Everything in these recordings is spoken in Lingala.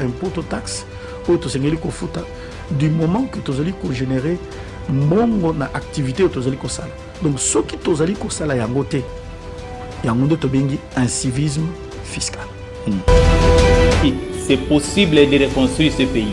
impôt to taxe oyo tosengeli kofuta du moment que tozali kogénere mbongo na activité oyo tozali kosala donc soki tozali kosala yango te yango nde tobengi incivisme fiscal hmm. c'est possible de reconstruire ce pays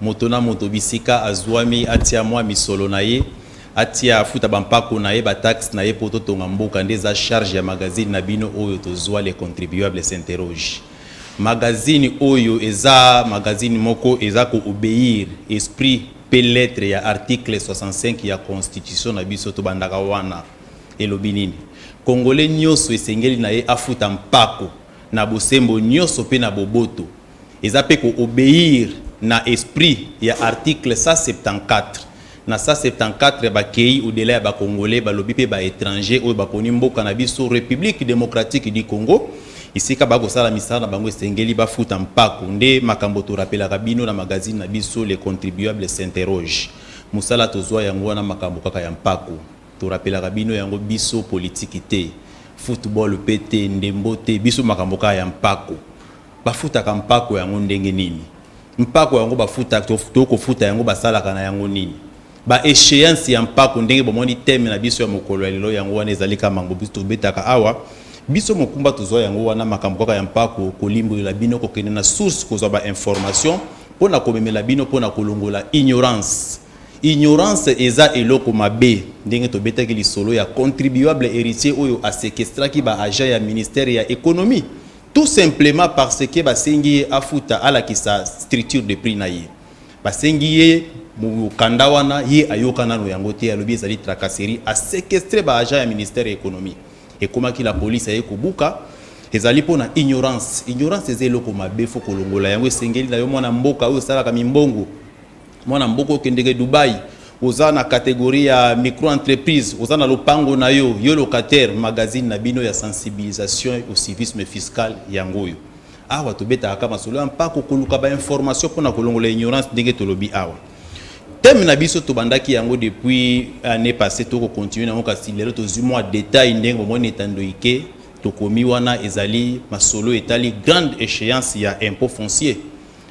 Moto na moto bisika azuami atia mua misolo na ye, atia afuta ba mpako na ye, ba taxes na ye po totonga mboka nde eza charge ya magazine na bino oyo tozua le contribuable s'interroge. Magazine oyo eza magazine moko eza ko obeir esprit pe lettre ya article 65 ya constitution na biso tobandaka wana elobi nini? Congolais nioso esengeli na ye afuta mpako na bosembo nioso pe na boboto. eza pe ko obeir na esprit ya article 174 na 174 ba keyi au delà ya ba congolais ba lobi pe ba etrangers oyo ba poni mboka na biso Republique Democratique du Congo esika ba ko sala misala na bango esengeli ba futa mpako nde makambo to rapelaka bino na magazine na biso le contribuable s'interroge musala to zua yango wana makambo kaka ya mpako to rapelaka bino yango biso politique te football pe te ndembo te biso makambo kaka ya mpako. Bafutaka mpako yango ndenge nini? Mpako yango bafutaka to tokofuta yango basalaka na yango nini? Ba echeances ya mpako ndenge bomoni theme na biso ya mokolo ya lelo yango wana ezali kaka makambo biso tobetaka awa. Biso mokumba tozwa yango wana makambo kaka ya mpako kolimbolela bino kokende na source kozwa ba informations mpo na komemela bino mpo na kolongola ignorance. Ignorance eza eloko mabe ndenge tobetaki lisolo ya contribuable heritier oyo a sequestraki ba agents ya ministère ya economie. Tout simplement parce que basengi ye afuta alakisa structure de prix na ye. Basengi ye mokanda wana ye ayoka nano yango te alobi ezali tracasserie a sequestrer ba agents ya ministère ya economie. Ekomaki la police aye kobuka ezali mpo na ignorance. Ignorance eza eloko mabe faut kolongola yango esengeli na yo mwana mboka oyo osalaka mimbongo. Mwana mboka okendeke Dubaï, oza na catégorie ya micro entreprise, oza na lopango na yo, yo locataire, magazine na bino ya sensibilisation au civisme fiscal yango oyo. Awa tobetaka ka masolo ya mpako koluka ba information mpona kolongola ignorance ndenge tolobi awa. Thème na biso tobandaki yango depuis année passée toko continuer nango kasi lelo tozwi mwa détail ndenge bomoni etando ike tokomi wana ezali masolo etali grande échéance ya impôt foncier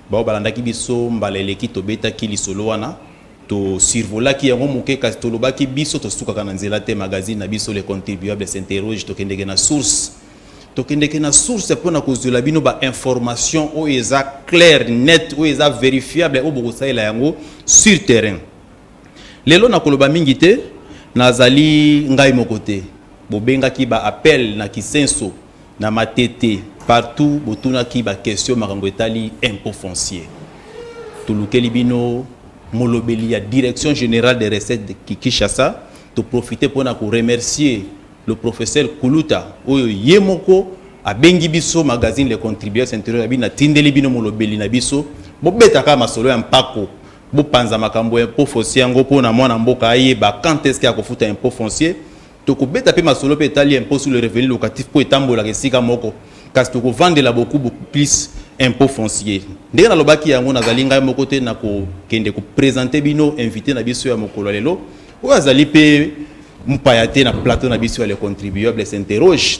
Baoyo balandaki biso mbala eleki, tobetaki lisolo wana, to survolaki yango moke, kasi tolobaki, biso tosukaka na nzela te. Magazine na biso, Le Contribuable s'interroge, tokendeke na source. Tokendeke na source mpo na kozuela bino ba informations oyo eza claire, nette, oyo eza verifiable, oyo bokosalela yango sur terrain. Lelo nakoloba mingi te, nazali ngai moko te. Bobengaki ba appels na Kisenso. na matete partout botunaki ba question makambo etali impôt foncier tolukeli bino molobeli ya direction générale des recettes de Kinshasa to profiter pona ko remercier le professeur Kuluta oyo ye moko abengi biso magazine le contributeur s'interroge bino atindeli bino molobeli na biso bobetaka masolo ya mpako bopanza makambo ya impôt foncier yango pona mwana mboka ayeba quand est-ce que akofuta impôt foncier Tokobeta mpe masolo mpe etali impot sur le revenu locatif mpo etambolaka esika moko, kasi tokovandela beaucoup beaucoup plus impot foncier. Ndenge nalobaki yango, nazali ngai moko te na kokende ko presenter bino invite na biso ya mokolo ya lelo, oyo azali mpe mopaya te na plateau na biso ya Le Contribuable s'interroge.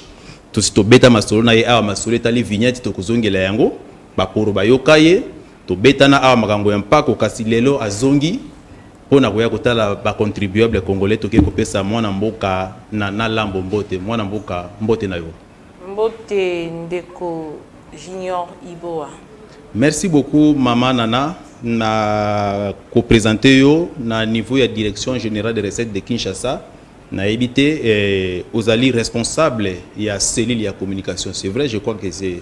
Tosi tobeta masolo na ye awa, masolo etali vignette, tokozongela yango. Bakoro bayoka ye. Tobetana awa makambo ya mpako, kasi lelo azongi. Mpo na koya kotala ba contribuables congolais toke kopesa mwana mboka na na lambo mbote. Mwana mboka mbote na yo. Mbote ndeko Junior Iboa. Merci beaucoup maman Nana na ko presenter yo na niveau ya direction generale des recettes de Kinshasa nayebi te eh, ozali responsable ya cellule ya communication c'est vrai je crois que c'est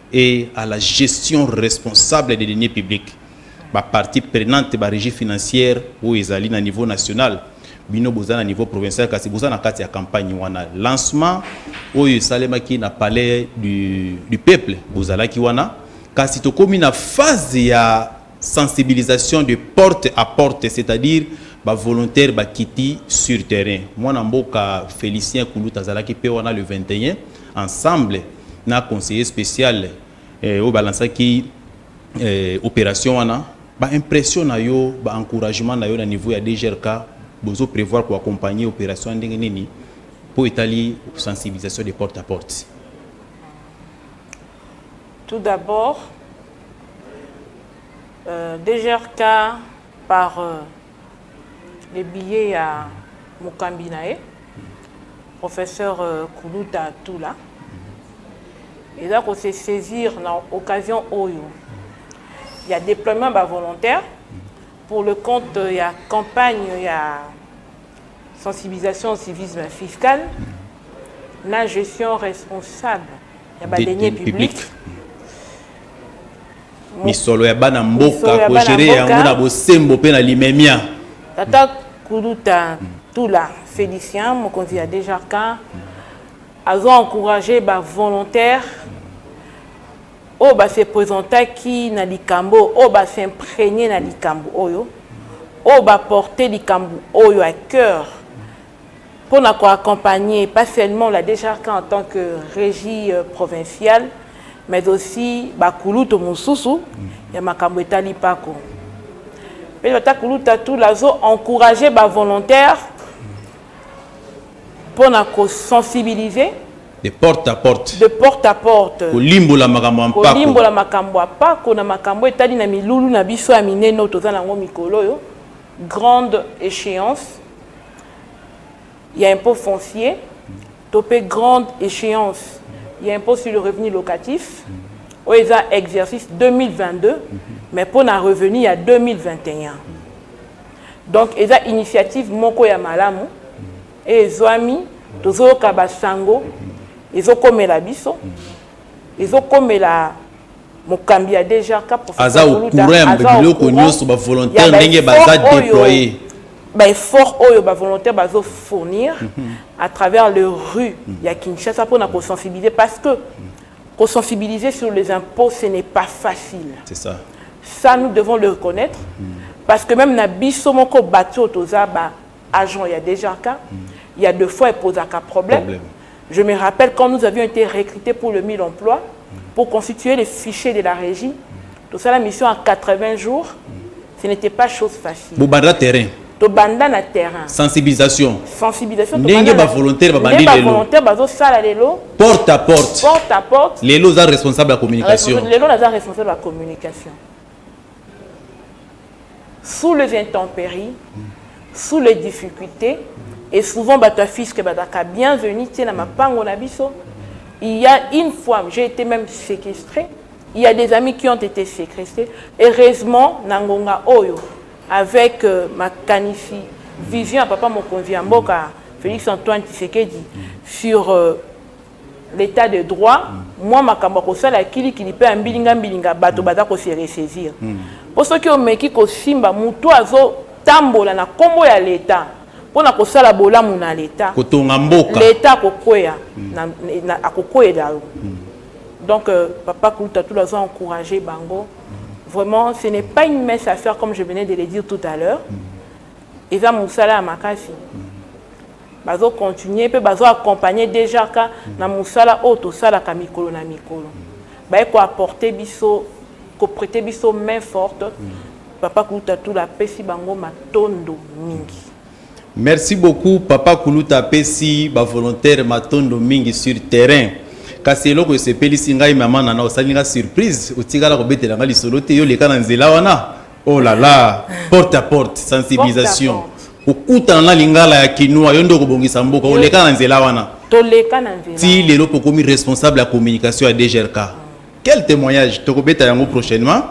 et à la gestion responsable des deniers publics ba parties prenantes ba regies financières oyo ezali na niveau national bino boza na niveau provincial kasi boza na kati ya campagne wana lancement oyo esalemaki na palais du, du peuple bozalaki wana kasi tokomi na phase ya sensibilisation de porte à porte c'est-à-dire ba volontaire bakiti sur terrain mwana mboka Félicien Kuluta azalaki mpe wana le 21 ensemble na conseiller special oyo ba lansaki operation wana ba impression na yo ba encouragement na yo na niveau ya DGRK bozo prevoir ko accompagner operation ya ndenge nini mpo etali sensibilisation de porte à porte tout d'abord euh, DGRK par euh, le billet ya mokambi na ye professeur Kuluta Tula eza ko se saisir na occasion oyo ya déploiement ba volontaires pour le compte ya campagne ya sensibilisation au civisme fiscal na gestion responsable ya ba deniers publics misolo ya bana mboka kogere yango na bosembo mpe na limemia tata kuluta tula félicien mokonzi ya djrk azo encourage bavolontaire oyo base présentaki na likambo oyo base imprégné na likambo oyo oyo baporte likambo oyo à cœur Mpo na ko accompagner pas seulement la DGRK en tant que regie provinciale mais aussi ba kulutu mosusu ya makambo etali mpako. Mpe tata kulutu Atula azo encourager ba volontaires mpo na ko sensibiliser, de porte à porte, de porte à porte, kolimbola makambo ya mpako, kolimbola makambo ya mpako na makambo oyo etali na milulu na biso ya minene oyo toza na yango mikolo oyo. grande echeance ya impot foncier to mpe grande echeance ya impot sur le revenu locatif oyo eza exercice 2022 mais mpo na revenu ya 2021 donc eza initiative moko ya malamu eye ezwami tozoyoka basango ezokomela biso ezokomela mokambi ya DGRK aza au courant ya biloko nyonso ba volontaire ndenge baza déployer ba effort oyo ba volontaire bazo fournir mhm. à travers le rue mhm. ya Kinshasa pour na ko sensibiliser parce que ko sensibiliser sur les impôts ce n'est pas facile c'est ça ça nous devons le reconnaître mhm. parce que même na biso moko bato toza ba agent ya DGRK ya de fois epozaka problème. problème. Je me rappelle quand nous avions été recrutés pour le 1000 emplois pour constituer les fichiers de la régie, tout ça la mission à 80 jours, ce n'était pas chose facile. Bobanda terrain. tobanda na terrain sensibilisation sensibilisation ndenge bavolontaire babandi lelo bavolontaire bazosala lelo porte à porte porte à porte lelo oza responsable ya communication lelo naza responsable ya communication sous les intemperies, sous les difficultés, et souvent bato ya fiske bazalaka bienvenu te na mapango na biso il y a une fois j'ai été même séquestré il y a des amis qui ont été séquestrés heureusement na ngonga oyo avec euh, makanisi vision ya papa mokonzi ya mboka félix antoine tshisekedi sur euh, l'etat de droit mwa makambo ya kosala ya kilikili mpe ya mbilingambilinga bato baza ko se ressaisir mpo soki omeki kosimba moto oyo azotambola na nkombo ya leta mpo na kosala bolamu na leta, kotonga mboka, leta akokwea na akokweyela yo donc papa kuluta tula azo encourager bango vraiment ce n'est pas une mince affaire comme je venais de le dire tout à l'heure eza mosala ya makasi. Bazo continuer mpe bazo accompagner DGRK na mosala oyo tosalaka mikolo na mikolo. Baye ko apporter biso, ko preter biso main forte. Papa Kuluta Tula apesi bango matondo mingi. Merci beaucoup papa kuluta apesi ba volontaire matondo mingi sur terrain kasi eloko esepelisi ngai mama nana osali nga surprise otikala kobetela nga lisolo te yo leka na nzela wana Oh la la, porte à porte, sensibilisation. Porte à porte. Okutana na lingala ya kinois, yo nde okobongisa mboka, oleka na nzela wana. Toleka na nzela. Ti lelo pokomi responsable ya communication ya DGRK. Quel témoignage tokobeta yango prochainement.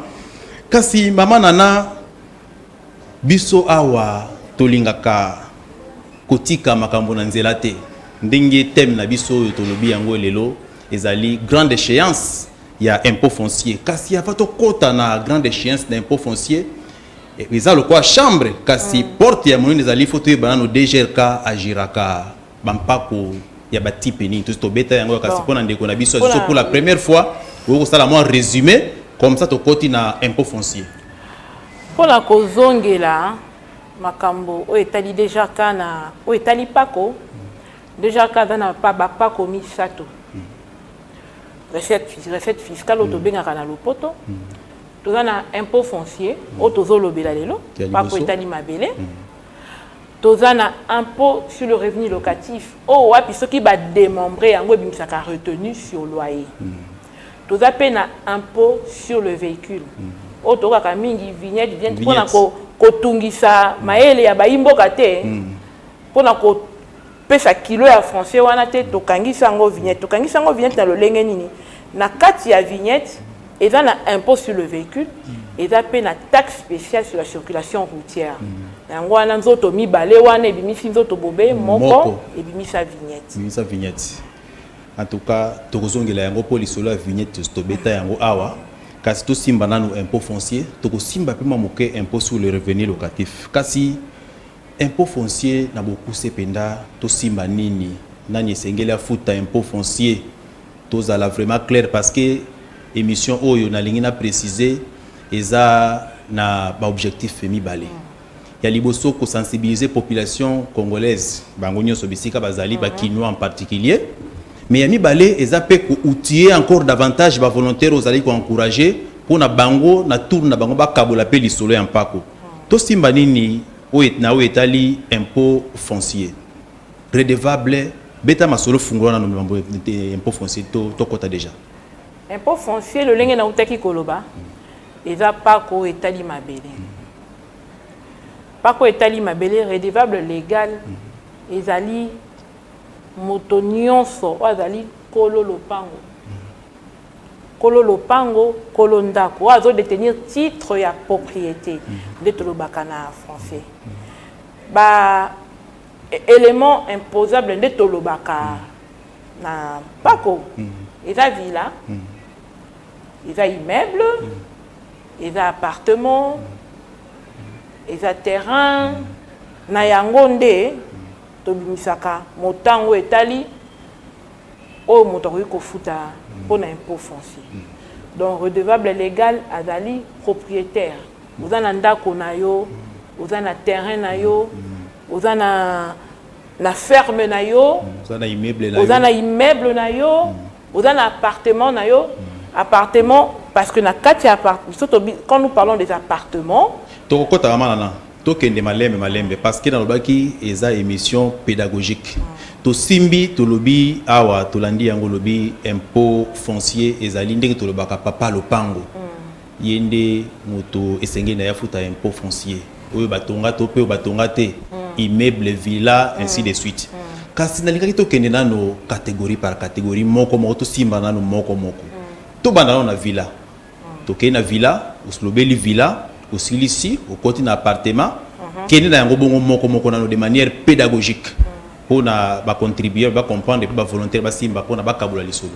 Kasi mama Nana biso awa tolingaka kotika makambo na nzela te. Ndenge thème na biso oyo tolobi yango lelo ezali grande échéance ya impot foncier kasi avant tokota na grande echence na impot foncier eza lokola chambre kasi mm. porte ya monene ezali fo toyeba nano dgrk agiraka bampako ya batipe nini tosi tobeta yango ya kasi mpo na ndeko na biso aziso pour la première fois oyo kosala mwa résumé comme ça tokoti na impot foncier mpo na kozongela makambo oyo etali dgrk na oyo etali mpako dgrk aza na bapako misato recette, recette fiscale oyo mm. tobengaka na lopoto mm. toza na impôt foncier mm. oyo tozolobela lelo mpako etali mabele toza na impôt sur le revenu locatif oyo wapi soki bademembre yango ebimisaka retenu sur loyer toza mpe na impôt sur le véhicule oyo tokaka mingi vignette vignette mpona kotungisa mayele ya bayimboka te mpona Pesa kilo ya français wana te tokangisi yango vignette tokangisi yango vignette na lolenge nini na kati ya vignette eza na impôt sur le véhicule eza mpe na taxe spéciale sur la circulation routière na yango wana nzoto mibale wana ebimisi nzoto bobe moko ebimisa vignette ebimisa vignette en tout cas tokozongela yango mpo lisolo ya vignette tobeta yango awa kasi tosimba nanu impôt foncier tokosimba mpe mwa moke impôt sur le revenu locatif kasi Impot foncier na bokuse penda tosimba nini? Nani esengeli afuta impot foncier? Tozala vraiment claire parce que emission oyo nalingi na preciser eza na ba objectifs mibale. Ya liboso ko sensibiliser population congolaise bango nionso bisika bazali ba kinois en particulier mais ya mibale eza pe ko outiller encore davantage ba volontaires oyo ozali ko encourager pona bango na tour na bango bakabola pe lisolo ya mpako. Tosimba nini na oyo etali impot foncier? Redevable beta masolo fungola nanu mambo impot foncier tokota dejà. Impot foncier lolenge nawutaki koloba eza pacte oyo etali mabele. Pacte oyo etali mabele redevable legal ezali moto nionso oyo azali kolo lopango. Kolo lopango, kolo ndako, oyo azo detenir titre ya propriete nde tolobaka na français. Ba elements imposables nde tolobaka na mpako, eza villa, eza immeuble, eza appartement, eza terrain, na yango nde tobimisaka motango etali. oyo moto akoki kofuta mpo na impot foncier donc redevable legal azali proprietaire oza na ndako na yo oza na terrain na yo oza na na ferme na yo oza na immeuble na yo oza na appartement na yo appartement parce que na kati ya appart quand nous parlons des appartements tokokota ya malana Tokende malembe malembe parce que nalobaki eza emission pedagogique. Tosimbi tolobi awa tolandi yango lobi impôt foncier ezali ndenge tolobaka papa lopango ye nde moto esengeli na ye afuta impôt foncier oyo batonga to mpe batonga te immeuble villa ainsi de suite kasi nalingaki tokende nano catégorie par catégorie moko moko tosimba nano moko moko tobanda nano na villa Tokei na villa, oslobeli villa, osilisi, okoti na appartement, kende na yango bongo moko moko nano de manière pedagogique mpo na ba contribue ba comprendre mpe ba volontaire basimba mpo na bakabola lisolo.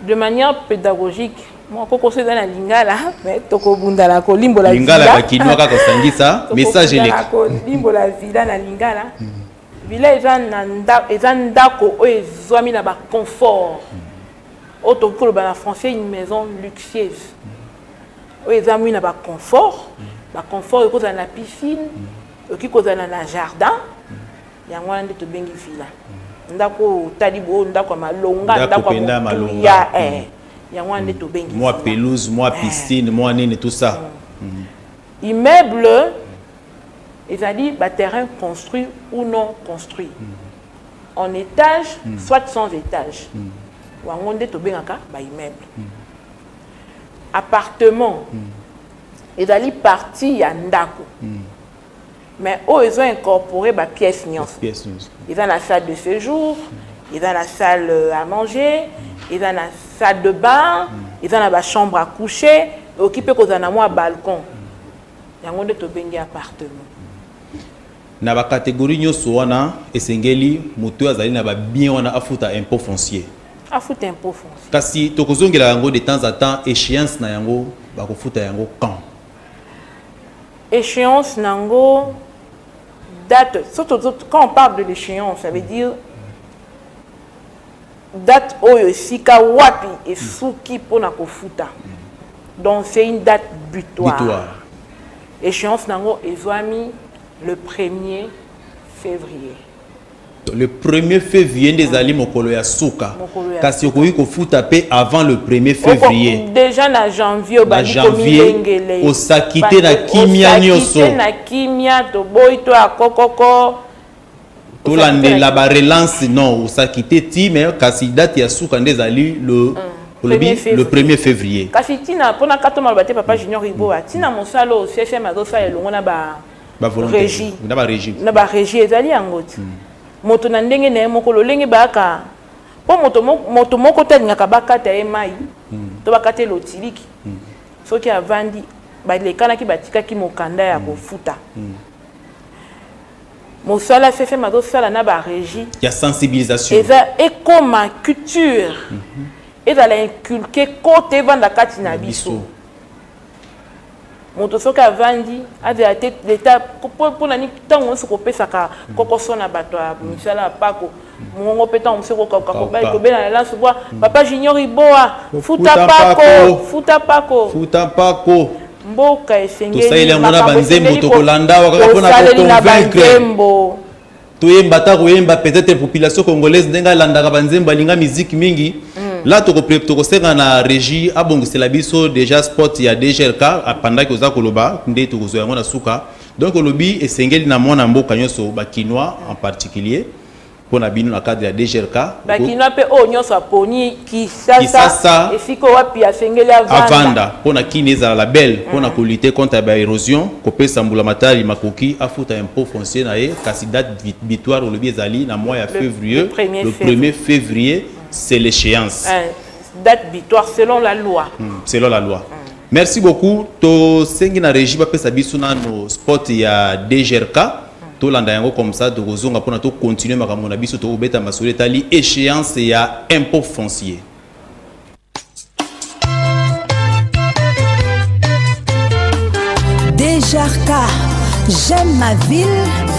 De manière pedagogique mwa kokoso eza na lingala me tokobunda na kolimbola lingala bakinwa kaka osangisa message eleka kolimbola villa na lingala villa eza na ndako eza ndako oyo ezwami na baconfort oyo tokoki koloba na français une maison luxueuse oyo ezamwi na baconfort baconfort ekoki kozala na piscine ekoki kozala na jardin yango wana nde tobengi villa ndako oyo otali boyo ndako ya malonga ndako ya motuya eh. mm. yango wana nde mm. tobengi mwa pelouse mwa eh. piscine mwa nini tout ça mm. immeuble ezali baterrain construit ou non construit en etage mm. soit sans etage mm. wango nde tobengaka baimmeuble mm. appartement mm. ezali partie ya ndako mm. mais oyo ezo incorpore bapièce nyonso eza na salle de séjour mm. eza na salle euh, à manger mm. eza na salle de bain mm. eza na bachambre à coucher okipe kozala na mwa balcon mm. yango nde tobengi appartement Na ba categories nionso wana, esengeli moto oyo azali na ba biens wana afuta impot foncier. Afuta impot foncier. Kasi tokozongela yango de temps à temps, echeance na yango bakofuta yango quand? Echeance na yango date, quand on parle de l'echeance, ça veut dire Date oyo esika wapi esuki pona kofuta donc c'est une date butoir echance na yango ezuami le premier fevrier. Le premier fevrier nde ezali mokolo ya suka kasi okoki kofuta pe avant le premier fevrier dejà na janvier obandi komilengele osakite na kimia nioso na kimia toboyi to ya kokoko tolandela ba relance non osakite ti me kasi date ya suka nde ezali le olobi le 1er février kasi ntina mpona kato maloba te papa junior riboa ntina mosala oyo ccm azosala elongo na ba régie na ba régie ezali yango ti hmm. moto na ndenge na ye moko lolenge bayaka mpo moto, moto moko te alingaka bakata ye mai hmm. to bakata ye lotiliki hmm. soki avandi balekanaki batikaki mokanda ya kofuta mm. mosala ffm azosala na ba régie ya sensibilisation eza ekoma culture mm -hmm. ezala inculke kote evanda kati na biso moto soki avandi azala te leta mpo na nini ntango nyonso kopesaka kokoso na bato ya misala ya mpako mongongo mpe ntango mosusu ekokauka kobela na lanso bwa hmm. papa junior iboa futa pako futa pako futa pako mboka esengeli yango na banzembo tokolanda wakaka mpona koconvaincre toyemba ata koyemba peut-être population congolaise ndenge alandaka banzembo alinga miziki mingi mm. la tokosenga na régie abongisela biso déjà spot ya dglk apandaki oza koloba nde tokozwa yango na suka Donc olobi esengeli na mwana mboka nyonso ba kinois en particulier mpo na bino na cadre ya DGRK ba kinois mpe oyo nyonso aponi Kisasa esika wapi asengeli avanda mpo na kini ezala label mpo na mm. kolite contre ba érosion kopesa mbula matari makoki afuta impôt foncier na ye kasi date victoire olobi ezali na mois ya février le 1er février c'est l'échéance eh, date victoire selon la loi mm, selon la loi mm. Merci beaucoup to sengi na regie ba pesa biso na no spot ya DGRK tolanda yango comme ça tokozonga mpona tocontinue makambo na biso tokobeta masolo etali échéance ya impôt foncier Dejarka, j'aime ma ville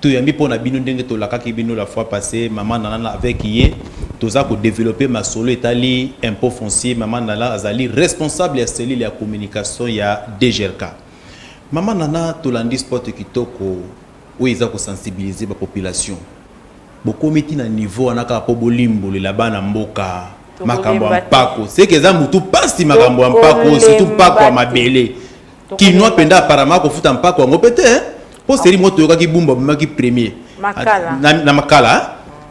Toyambi pona bino ndenge tolakaki bino la fois passe maman Nana na avec ye toza ko developpe masolo etali impot foncier maman Nana azali responsable ya cellule ya communication ya DGRK maman Nana tolandi spot kitoko oyo eza ko sensibiliser ba population bokomi ti na niveau wana kaka po bolimbolela bana mboka makambo ya mpako seke eza mutu pasi makambo ya mpako surtout mpako ya mabele Kinois penda apparemment akofuta mpako yango pe te hein. po seri moko toyokaki bumba abimaki premier Makala. na, na makala hein.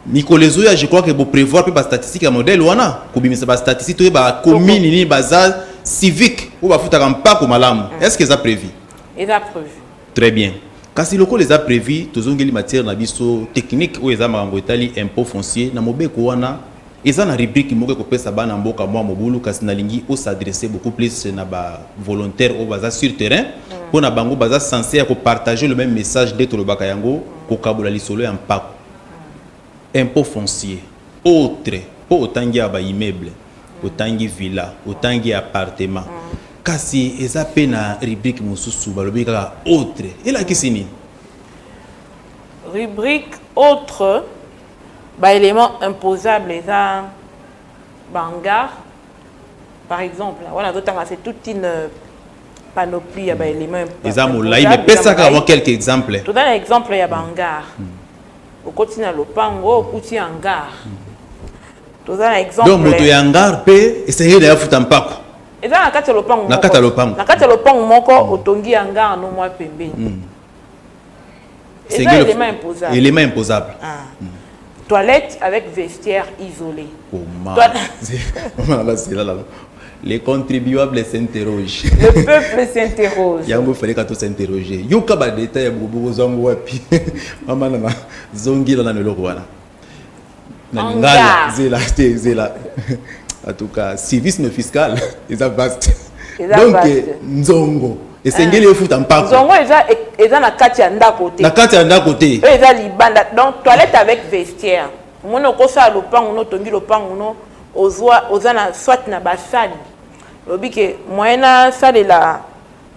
mikolo ezoya je crois que boprévoir mpe bastatistique ya modèle wana kobimisa bastatistique toyeba commune nini baza civique oyo bafutaka mpako malamu est ce que eza prévu eza prévu très bien kasi lokola eza prévu tozongeli matière na biso technique oyo eza makambo etali impôt foncier na mobeko wana Eza na rubrique moko ekopesa bana mboka mua mobulu kasi nalingi o s'adresser beaucoup plus na ba volontaires oyo baza sur terrain mpo na bango baza sense ya ko partager le meme message nde tolobaka yango kokabola lisolo ya mpako, impot foncier, autres mpo otangi awa ba immeubles, otangi villa, otangi appartements kasi eza mpe na rubrique mosusu balobi kaka autres elakisi nini? Rubrique autres Ba elements imposables eza ba hangars par exemple wana azotanga c'est toute une euh, panoplie ya ba éléments eza molai mais pesa kaka mwa quelques exemples toza na exemple ya ba hangar mm. okoti na lopango okuti hangar mm. toza na exemple donc moto ya hangar mpe esengeli na ye afuta mpako eza na kati ya lopango na kati ya lopango na kati ya lopango moko mm. otongi hangar no mwa pembeni Eza element imposable. Element imposable. Ah. Mm. Toilette avec vestiaire isolé. Comment Maman là c'est là là. Les contribuables s'interrogent. Le peuple s'interroge. Yango fallait ka to s'interroger. Yoka ba détails ya bobo zango wapi. Maman na zongi la na meloko wana. na lingala zela te zela en tout cas civisme fiscal eza vaste donc nzongo esengeli efuta mpako nzongo eza eza na kati ya ndako te na kati ya ndako te oyo eza libanda donc toilette avec vestiaire omoni okosala lopango no otongi lopango no ozwa oza na soit na basali olobi ke moyen asalela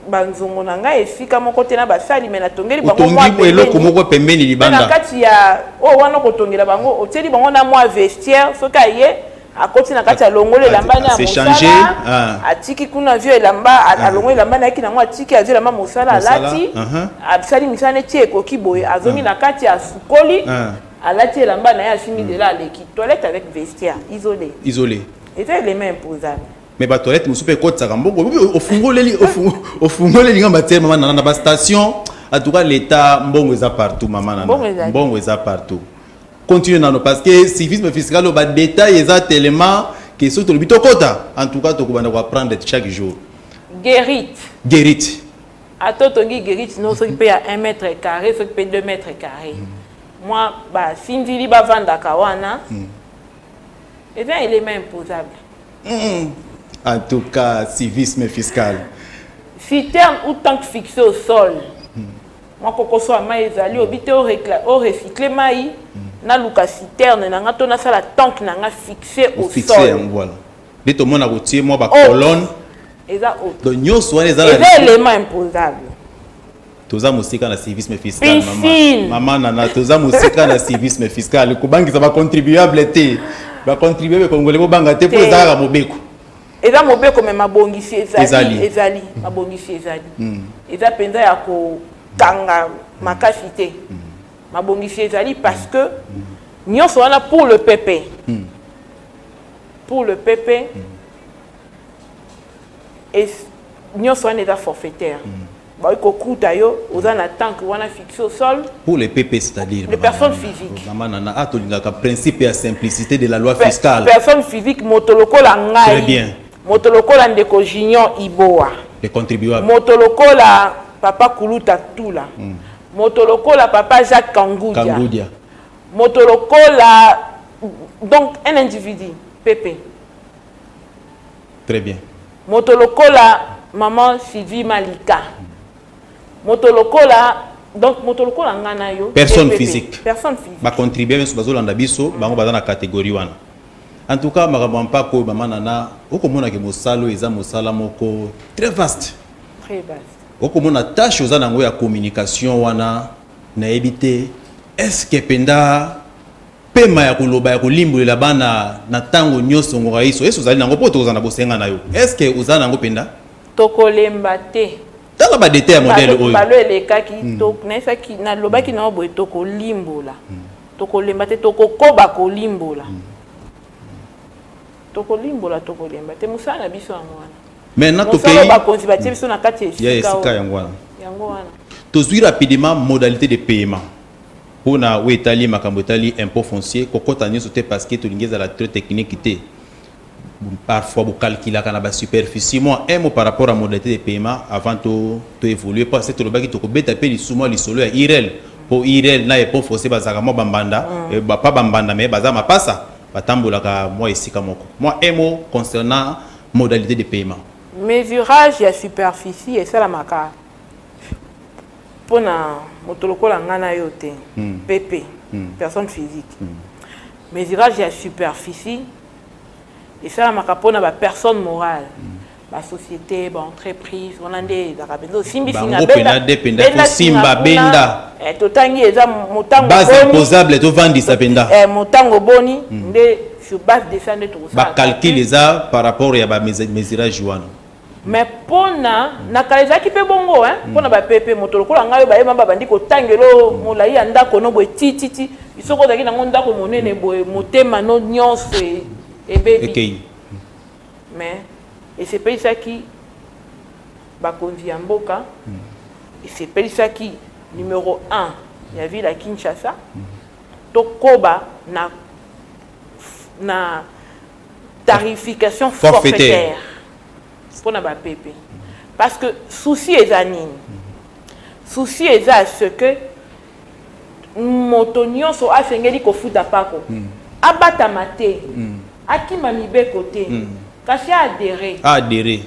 banzongo na ngai esika moko te na basali me natongeli bango eloko moko pembeni libanda na kati ya oyo oh, wana kotongela bango otieli bango na mwa vestiaire soki aye akoti na kati alongoli elamba na mosala ah. atiki kuna azwi elamba ah. alongoli elamba nayaki nango atiki azwi elamba mosala alati uh-huh. asali misala neti ekoki boye azongi ah. na kati asukoli alati elamba na ye asimbi hmm. zela aleki toilette avec vestiaire isolé isolé eza elema imposable mais ba toilette mosusu mpe ekotisaka mbongo ofungoleli ofungoleli nga batiere mama nana na ba station en tout cas l'état mbongo eza partout mama nana mbongo eza partout continue nano parce que civisme fiscal oyo badétail eza tellement ke soki tolobi tokota en tout cas tokobanda koapprendre chaque jour guerit guerit ata otongi guerit no soki mpe ya 1 mètre carré soki mpe 2 mètre carré mm. mwa basindili bavandaka wana mm. eza elema imposable Hum, en tout cas, civisme fiscal. Citerne ou tank fixé au sol. Hmm. Mwa kokoso ya mai ezali obi te o recycle mai hmm. naluka citerne na nga to nasala tank na nga fixé au sol. yango wana nde tomona kotie mwa bacolonne eza donc nyonso wana eza elema imposable toza mosika na civisme fiscal mama, mama nana toza mosika na civisme fiscal kobangisa bacontribuable te bacontribuable kongole bobanga te mpo ezalaka mobeko eza mobeko me mabongisi ezali ezali mm. mabongisi ezali mm. eza mpenza ya kokanga mm. makasi te mabongisi ezali parce que nyonso wana pour le pepe pour le pepe nyonso wana eza forfaitaire Bakoki kokuta yo oza na tank wana fixe au sol. Pour les PP c'est à dire les personnes physiques. Maman Nana, ah tolingaka principe ya simplicité de la loi fiscale. Personne physique moto lokola ngai. Très bien. Moto lokola ndeko Junior Iboa. Les contribuables. Moto lokola papa Kuluta Tula. Mm. Moto lokola papa Jacques Kangudia. Kangudia. Moto lokola donc un individu PP. Très bien. Moto lokola maman Sylvie Malika. Moto lokola donc moto lokola nga na yo. Personne physique. Personne physique. Ba contribuer mais bazo landa biso bango baza na catégorie wana. En tout cas makambo ya mpako oyo mama nana okomona ke mosala oyo eza mosala moko très vaste. Très vaste. okomona tâche oza nango ya communication wana nayebi te est-ce que penda Pema ya koloba ya kolimbolela bana na tango nyoso ngoka iso esi ozali nango po tokoza na bosenga na yo est ce que oza nango penda? Tokolemba te. Tala ba detail ya modèle oyo. Balo elekaki hmm. to naisaki na lobaki na oboye tokolimbola. Hmm. Tokolemba te tokokoba kolimbola. Hmm. Tokolimbola tokolemba te musala na biso yango wana. Mais na tokei bakonzi batie biso na kati ya esika yango wana. Yango wana. Tozui rapidement modalité de paiement. Po na oyo etali makambo etali impot foncier, kokota nionso te parce que tolingi ezala tres technique te. Parfois bo calculaka na ba superficie mua un mot par rapport ya modalite de paiement avant to to evoluer parce que tolobaki toko beta pe lisusu mua lisolo ya IREL po IREL na impot foncier bazalaka mua ba mbanda, pas ba mbanda mais baza mapasa, ba tambolaka mua esika moko. Mua un mot concernant modalite de paiement. Mesurage ya superficie esalamaka? Pona moto lokola nga na yo te PP personne physique mesurage ya superficie esalamaka pona ba personnes morales ba societe ba entreprise wana nde ezalaka penza osimbi singa benda benda singa kuna eh totangi eza motango boni base imposable tovandisa penza eh motango boni nde sur base de ça nde tokosala ba calcul eza par rapport ya ba mesurage wana Mais pona na kala ezalaki pe bongo hein pona ba pepe moto lokola ngai ba yema ba bandi ko tangela yo molayi ya ndako no boye ti ti ti soki ozalaki nango ndako monene boye motema no nionso ebebi mais esepelisaki bakonzi ya mboka esepelisaki numero 1 ya ville ya Kinshasa tokoba na na tarification forfaitaire mpo na bapepe parce que souci eza nini souci eza ce que moto nyonso asengeli kofuta mpako mm. abatama te mm. akima mibeko te mm. kasi aadere aadere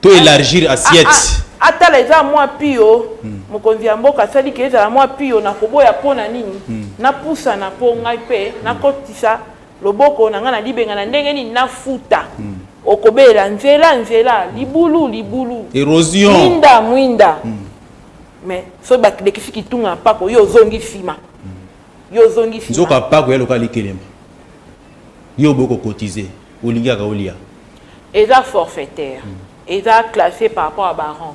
to élargir assiette atala eza mwa pio mm. mokonzi ya mboka asali ke ezala mwa pio na koboya mpo na nini mm. napusana mpo ngai mpe nakotisa mm. Loboko na nga na libenga na ndenge nini na futa Okobelela nzela nzela libulu libulu Erosion Mwinda mwinda Mais soki ba lekisi kitunga ya mpako yo ozongi sima Yo ozongi sima Nzoka mpako eya lokola likelemba Yo oboyi ko cotiser olingi kaka olia Eza forfaitaire Eza classe par rapport ya ba rang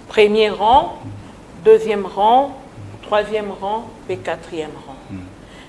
Premier rang Deuxième rang Troisième rang pe Quatrième rang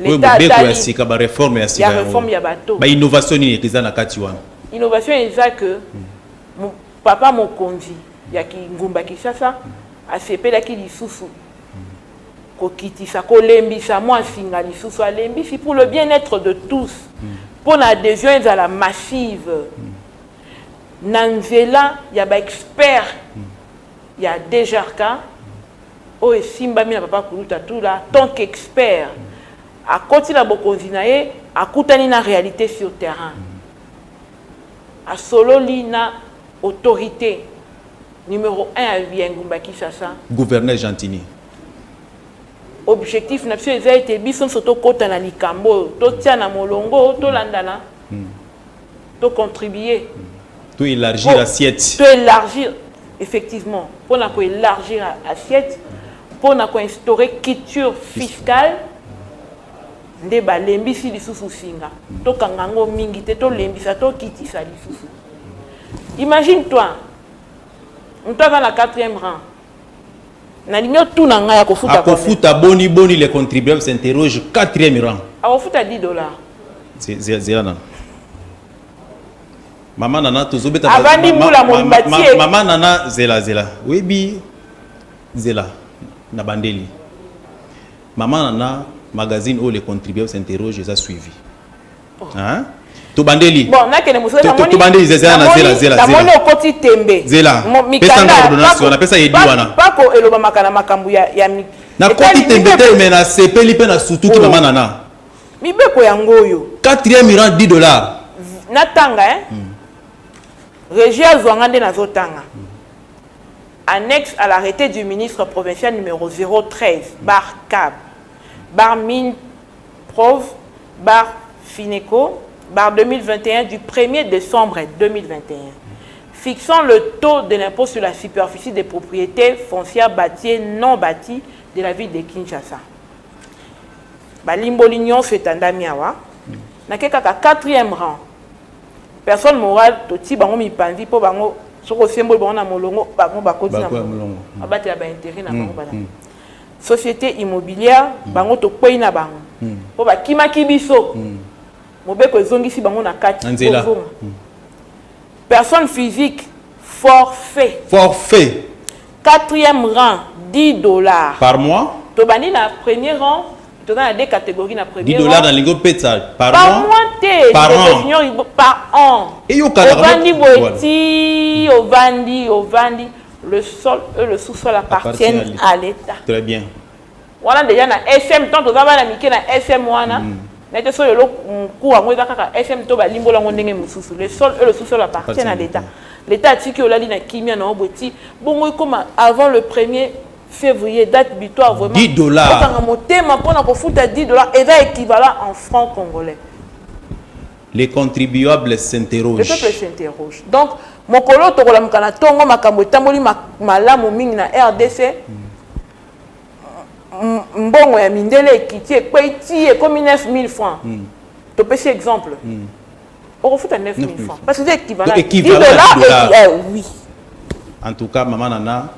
oyo mobeko ya sika ba reforme ya sika ya bato ba innovation nini eza na kati wana innovation eza que hmm. papa mokonzi ya kingumba kisasa asepelaki lisusu hmm. kokitisa kolembisa mwa nsinga lisusu alembisi pour le bien être de tous hmm. mpo na adhésion ezala massive na nzela ya baexpert ya dgrk oyo esimbami na Papa Kulutu Atula tant qu'expert, akoti na bokonzi na ye, akutani na realite sur terrain, asololi na autorite numero un ya engumba Kinsasa, Gouverneur Gentiny. Objectif na biso eza ete biso nionso tokota na likambo oyo, totiana molongo, tolandana. to contribuer to élargir assiette to élargir effectivement pour na ko élargir assiette pour na ko instaurer culture fiscale nde balembisi lisusu singa tokanga yango mingi te tolembisa tokitisa lisusu imagine toi moto aza na quatrième rang nalingi otuna ngai akofuta akofuta boni boni le contribuable s'interroge quatrième rang akofuta 10 dollars zela nana mama nana tozobeta avandi mbula mobimba tie mama nana zela zela oyebi zela na bandeli mama nana magazine oyo le contribuable s'interroge eza suivi Hein? tobandeli bon nakende mosala namoni tobandeli zela na zela zela namoni okoti tembe zela pesa nga ordonnance wana pesa yedi wana pako elobamaka na makambo ya ya nakoti tembe te me nasepeli mpe nasutuki mama nana mibeko yango oyo quatrième iran 10 dollars natanga eh? mm. régi azwa nga nde nazotanga mm. annexe à l'arrêté du ministre provincial numéro 013 bar cab bar mine Prov. Bar. Fineco. Bar. 2021 du premier decembre 2021 fixant le taux de l'impot sur la superficie des proprietes foncières baties non baties de la ville de Kinshasa. Balimboli nyonso etandami awa. Nake kaka quatrième rang. Personne morale toti bango mipanzi mpo bango soki osemboli bango na molongo bango bakoti na molongo. Abatela ba intérêt na bango bana. societe immobilière bango tokwei na bango mpo bakimaki biso mobeko ezongisi bango na kati Na nzela. kozonga personne physique forfait Forfait quatrième rang 10 dollars par mois, tobandi na premier rang toza na deux catégories na 10 premier dollars rang nalingi opesa par par mois. mois te Par ndeko an. junior Ibo- par an Eyokanaka ovandi moko- boye Voilà. ti ovandi ovandi le sol et le sous-sol appartiennent à l'État. Très bien. wana deja na sm tant toza bana mike na sm wana mm. nayete so lelo mokuu yango eza kaka sm to balimbola yango ndenge mosusu le sol e le sous-sol appartient na l'état l'état atiki olali na kimia na obo ti bongo ekoma avant le premier février date butoir vraiment 10 dollars okanga motema mpona kofuta 10 dollars eza équivalent en franc congolais Les contribuables s'interrogent. Le peuple s'interroge. Donc, mokolo tokolamuka na tongo makambo etamboli malamu mingi na RDC. Mbongo ya mindele ekiti ekwei ti ekomi 9000 francs. Mm. Topesi exemple. Mm. Okofuta 9000 francs. Parce que c'est équivalent. Donc, équivalent. 10 dollars, dollars. Et, eh, oui. En tout cas, maman Nana,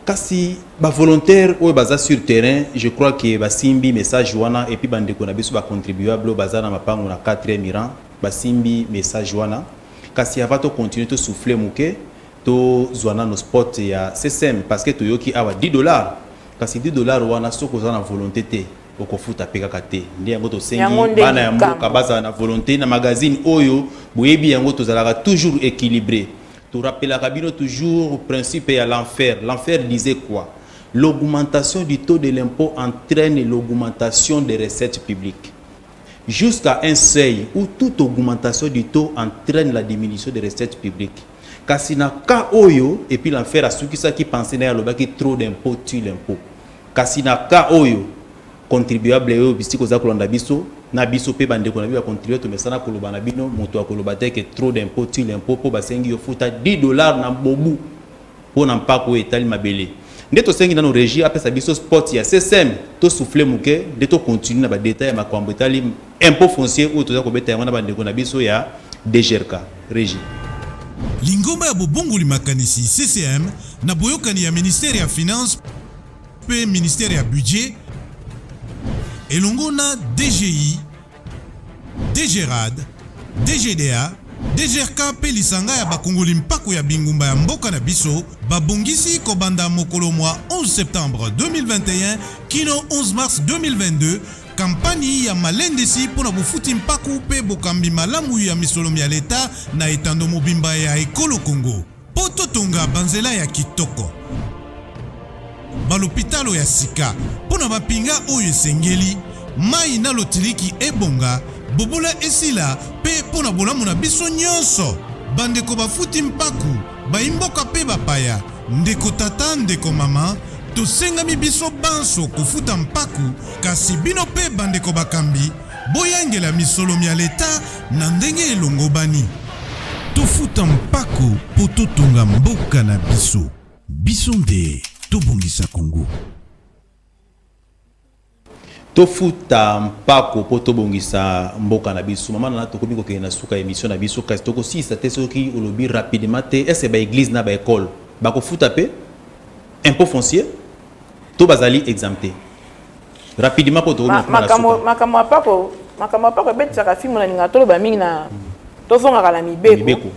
Kasi ba volontaires oyo baza sur terrain, je crois que basimbi message wana et puis ba ndeko na biso ba contribuables oyo baza na mapangu na quatrième rang basimbi message wana. Kasi avant to continuer to souffler muke tozua nanu spot ya SSEM parce que toyoki awa 10 dollars kasi 10 dollars wana soki oza na volonte te okofuta mpe kaka te nde yango tosengi bana ya mboka bazala na volonte na magazine oyo boyebi yango tozalaka toujours équilibré To rappelaka bino toujours principe ya l'enfer. L'enfer disait quoi? L'augmentation du taux de l'impot entraine l'augmentation des recettes publiques jusqu'à un seuil ou toute augmentation du taux entraine la diminution des recettes publiques. Kasi na cas oyo et puis l'enfer asukisaki pensee na ye alobaki trop d'impot tue l'impot. Kasi na cas oyo Contribuable yo bisika oza kolanda biso na biso pe bandeko na biso ba contribuable tomesana koloba na bino moto ya koloba te que trop d'impot tue l'impot po basengi yo futa 10 dollars na bobu po na mpaku oyo etali mabele nde tosengi nano regie apesa biso spot ya ssm to souffle moke nde to continue na ba detail ya makambo etali impot foncier oyo toza kobeta yango na bandeko na biso ya degerka regie Lingomba ya bobongoli makanisi, CCM, na boyokani ya Ministère ya Finances, mpe Ministère ya Budget elongo na DGI, DGRAD, DGDA, DGRK mpe lisanga ya bakongoli mpako ya bingumba ya mboka na biso babongisi kobanda mokolo mwa 11 septembre 2021 kino 11 mars 2022 kampani ya malendisi mpo na bofuti mpako mpe bokambi malamu ya misolo mya leta na etando mobimba ya ekolo Congo. Mpo totonga banzela ya kitoko, balopitalo ya sika mpo na bapinga oyo esengeli, mai na lotiliki ebonga, bobola esila mpe mpo na bolamu na biso nyonso, bandeko bafuti mpako, baimboka mpe bapaya, ndeko tata, ndeko mama, tosengami biso banso kofuta mpako, kasi bino mpe bandeko bakambi, Boyangela misolo mya Leta na ndenge elongobani. Tofuta mpako po totonga mboka na biso. Biso nde tobongisa Congo. Tofuta mpako po tobongisa mboka na biso. Mama Nana tokomi kokende na suka ya emission na biso kasi tokosilisa te soki olobi rapidement te est-ce que ba eglises na ba ecoles bakofuta pe impot foncier to bazali exemptes? Rapidement po tokomi na kuma na suka. Makambo ya pako, makambo ya pako ebetisaka fimbo na linga toloba mingi na tozongaka na mibeko. Mibeko.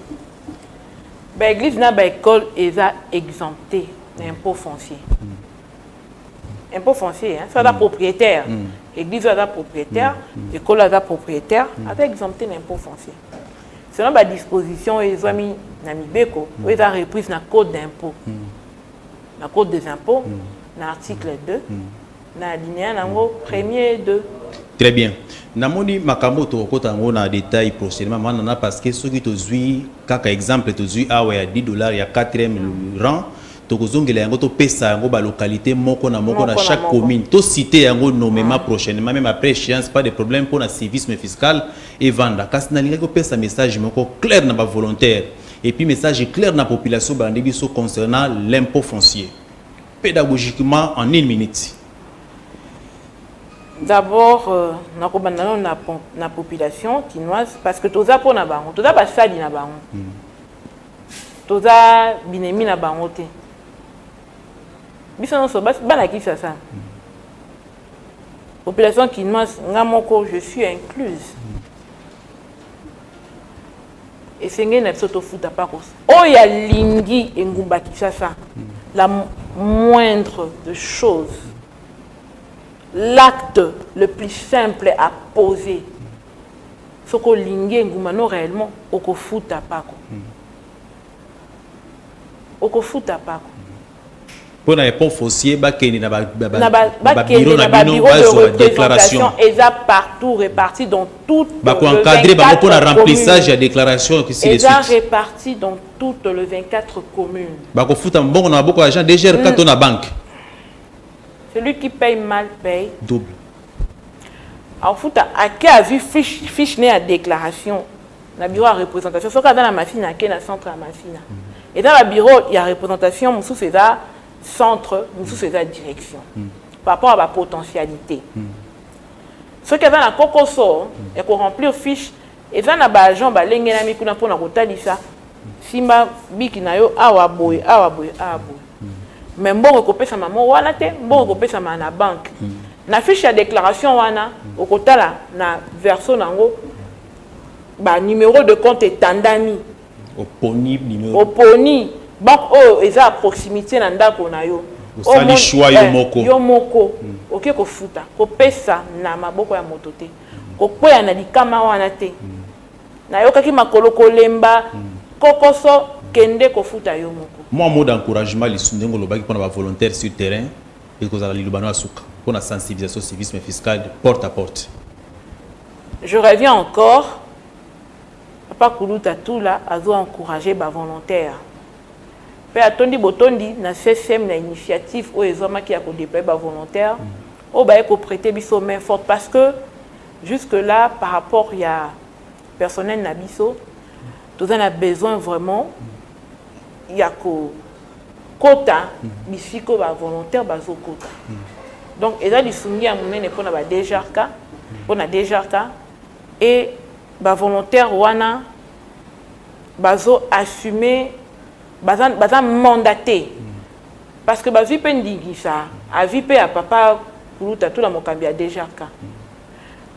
Ba église na ba école eza exempté na impôt foncier. Mm. Impôt foncier, hein, ça mm. propriétaire. Mm. Église aza propriétaire, mm. mm. école aza propriétaire, mm. aza exempté na impôt foncier. Selon ba disposition ezwami na mibeko, mm. oyo eza reprise na code d'impôt. Mm. na code des impôts mm. na article 2 mm. mm. na alinéa nango mm. premier et deux très bien namoni makambo tokokota yango na détail prochainement manana parce que soki tozwi kaka exemple tozwi awa ya 10 dollars ya 4e rang tokozongela yango topesa yango balocalité moko na moko na chaque commune tosite yango nomema ah. prochainement même après échéance pas de problème mpo na civisme fiscal evanda kasi nalingaki kopesa message moko claire na bavolontaire Et puis message clair na population balandi biso concernant l'impot foncier pedagogiquement en une minute. D'abord, euh, nakobanda nano na, na population kinoise parce que toza mpo na bango toza basali na bango mm. toza binemi na bango te biso nyonso bana kisasa mm. population kinoise nga moko je suis incluse mm. esengeli na biso tofuta mpakos oyo alingi engumba kinshasa la moindre de chose l'acte le plus simple à poser soki olingi engumba no réellement okofuta mpako okofuta mpako mpo na epont foncier bakende na babiro na bino bazwa déclaration eza partout réparti dans tout bakoencadre bango mpo na remplissage ya déclaration eza réparti dans toutes le 24 communes bakofuta mbongo na maboko ya agent dgrk mm. to na banque celui qui paye mal paye double akofuta ake azwi fiche ne ya déclaration na bureau ya représentation soki aza na masina ake na centre ya masina mm. eza ba bureau ya représentation mosusu eza centre mosusu eza direction mm. par rapport ya bapotentialité mm. soki aza na kokoso ya koremplir fiche eza na baagent balengelami kuna mpona kotalisa simba biki na yo awa boye awa boye awa boye me mbongo ekopesama mo wana te mbongo ekopesama na banke na fiche ya déclaration wana okotala na verso na yango ba numero de compte etandami oponi numero oponi banque oyo eza ya proximité na ndako na yo osali choix yo eh, moko yo moko hmm. oke kofuta kopesa na maboko ya moto te kokweya na likama wana te hmm. nayokaki makolo kolemba hmm. kokoso kende kofuta yo moko mwa mot d'encouragement lisu ndenge olobaki mpona bavolontaire sur terrain ekozala lilobano ya suka mpona sensibilisation civisme fiscal porte à porte Je reviens encore papa kuluta tula azo encourager ba volontaires pe atondi botondi na CSM na initiative oyo ezwamaki ya ko deployer ba volontaires oyo baye ko preter biso main forte parce que jusque là par rapport ya personnel na biso toza na besoin vraiment ya ko kota bisika oyo ba volontaires bazo kota donc eza lisungi ya monene pona ba DGRK pona DGRK et ba volontaires wana bazo assumer baza baza mandater parce que bazui pe ndingisa avis pe ya papa kuluta tula mokambi ya DGRK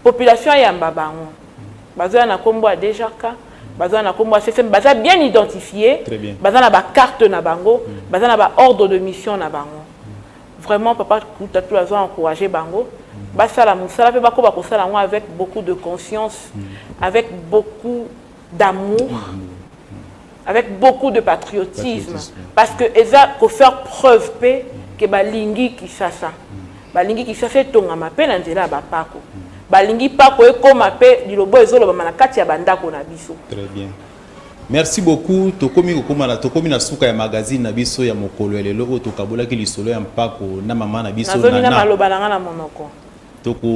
population ayamba bango bazo ya na kombo ya dejarka baza na kombo ya ccm baza bien identifié baza na ba carte na bango mm. baza na ba ordre de mission na bango mm. vraiment papa kutatu azo encourager bango mm. basala mosala mpe bakoba kosala yango avec beaucoup de conscience avec beaucoup d'amour avec beaucoup de patriotisme, parce que eza ko faire preuve pe que balingi Kisasa balingi Kisasa etongama pe na nzela ya bapako balingi pako ekoma pe lilobo ezolobama na kati ya bandako na biso très bien merci beaucoup tokomi kokoma na tokomi na suka ya magazine na biso ya mokolo ya lelo oyo tokabolaki lisolo ya mpako na mama na biso na maloba na nga na monoko Toko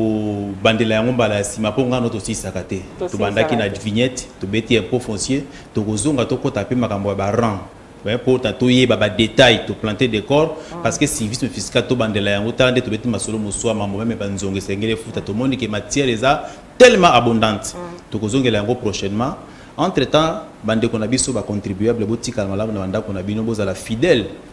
bandela yango mbala ya sima po nga no to silisaka te. To bandaki na vignette, to beti impot foncier, toko zonga to kota pe makambo ya ba rang mais po ta to yeba ba details to planter decor parce que civisme fiscal to bandela yango tala nde to beti masolo mosua mambo meme ba nzongo esengeli efuta to moni ke matière eza tellement abondante toko zongela yango prochainement entre temps ba ndeko na biso ba contribuables bo tikala malamu na ba ndako na bino bo zala fidèle